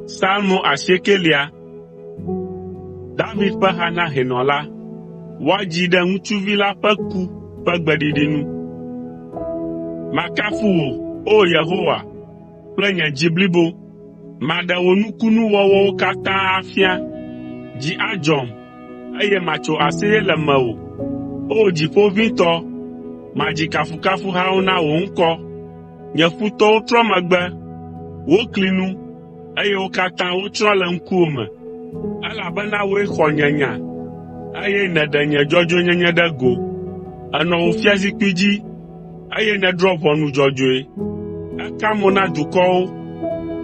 Salmo asiekelia. David ƒe ha na hɛnɔ la. Woadzi ɖe ŋutsuvi la ƒe ku ƒe gbeɖiɖi nu. Makafu wò, O Yehowa, kple nye dzi blibo. Maɖe wò nukunuwɔwɔwo katã afia. Dzi adzɔm, eye matso aseye le mewò. O dziƒo ʋĩtɔ, madzi kafukafuhawo na wò ŋkɔ. Nye futɔwo trɔ megbe, wokli nu, eye wo katã wotsrɔ̃ le ŋkuwò me, elabena wòe xɔ nye nya, eye nèɖe nye dzɔdzɔenyenye ɖe go. Ènɔ wò fiazikpui dzi eye nèdrɔ̃ ʋɔnu dzɔdzɔe. Èka mo na dukɔwo,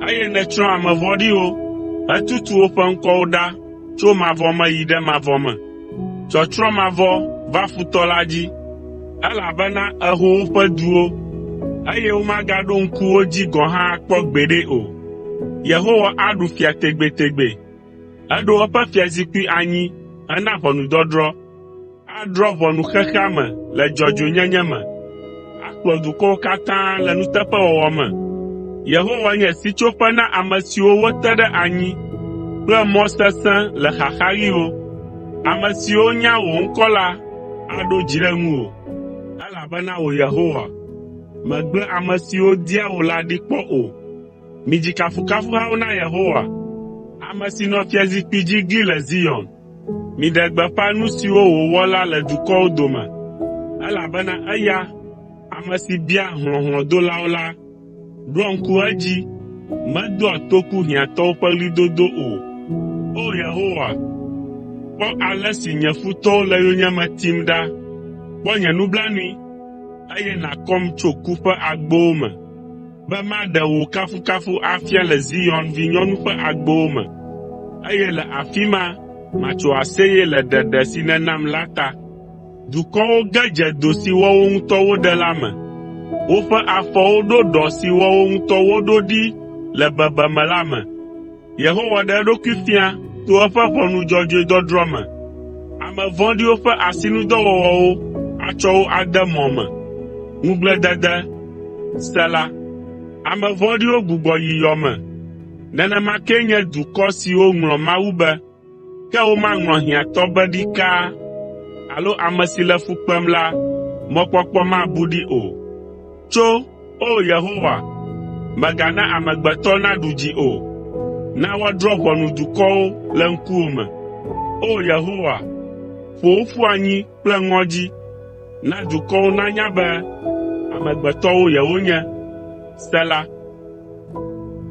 eye nètsrɔ̃ ame vɔ̃ɖiwo hetutu woƒe ŋkɔwo ɖa tso mavɔ me yi ɖe mavɔ me. Tsɔtsrɔ̃ mavɔ va futɔ la dzi, elabena èho woƒe duwo, eye womagaɖo ŋku wo dzi gɔ̃ hã akpɔ gbeɖe o. Yehowa aɖu fia tegbetegbe.” Eɖo eƒe fiazikpui anyi hena ʋɔnudɔdrɔ̃. Adrɔ̃ ʋɔnu xexea me le dzɔdzɔenyenye me. Akplɔ dukɔwo katã le nuteƒewɔwɔ me. Yehowa nye sitsoƒe na ame siwo wote ɖe anyi kple mɔ sesẽ le xaxaɣiwo. Ame siwo nya wò ŋkɔ la aɖo dzi ɖe ŋuwò, elabena wò Yehowa, mègblẽ ame siwo dia wò la ɖi kpɔ o. Midzi kafukafuhawo na Yehowa, ame si nɔ fiazikpui dzi gli le Zion. Miɖe gbeƒã nu siwo wòwɔ la le dukɔwo dome, elabena eya, ame si biaa hlɔ̃ hlɔ̃dolawo la, ɖoa ŋku edzi, medoa toku hiãtɔwo ƒe ɣlidodo o. O Yehowa, kpɔ ale si nye futɔwo le yonyeme tim ɖa. Kpɔ nye nublanui, eye nàkɔm tso ku ƒe agbowo me. be maɖe wò kafukafu afia le Zion vinyɔnu ƒe agbowo me, eye le afi ma matso aseye le ɖeɖe si nènam la ta. Dukɔwo ge dze do si woawo ŋutɔ woɖe la me. Woƒe afɔwo ɖo ɖɔ si woawo ŋutɔ woɖo ɖi le bebeme la me. Yehowa ɖe eɖokui fia to eƒe ʋɔnu dzɔdzɔe dɔdrɔ̃ me. Ame vɔ̃ɖiwo ƒe asinudɔwɔwɔwo atsɔ wo ade mɔ me. Ŋugbledede. Sela Ame vɔ̃ɖiwo gbugbɔ yi yɔ me. Nenema kee nye dukɔ siwo ŋlɔ Mawu be. Ke womaŋlɔ hiãtɔ be ɖikaa alo ame si le fu kpem la mɔkpɔkpɔ mabu ɖi o. Tso, O Yehowa, mègana amegbetɔ naɖu dzi o. Na woadrɔ̃ ʋɔnu dukɔwo le ŋkuwò me. O Yehowa, ƒo wo ƒu anyi kple ŋɔdzi. Na dukɔwo nanya be amegbetɔwo yewonye. Sela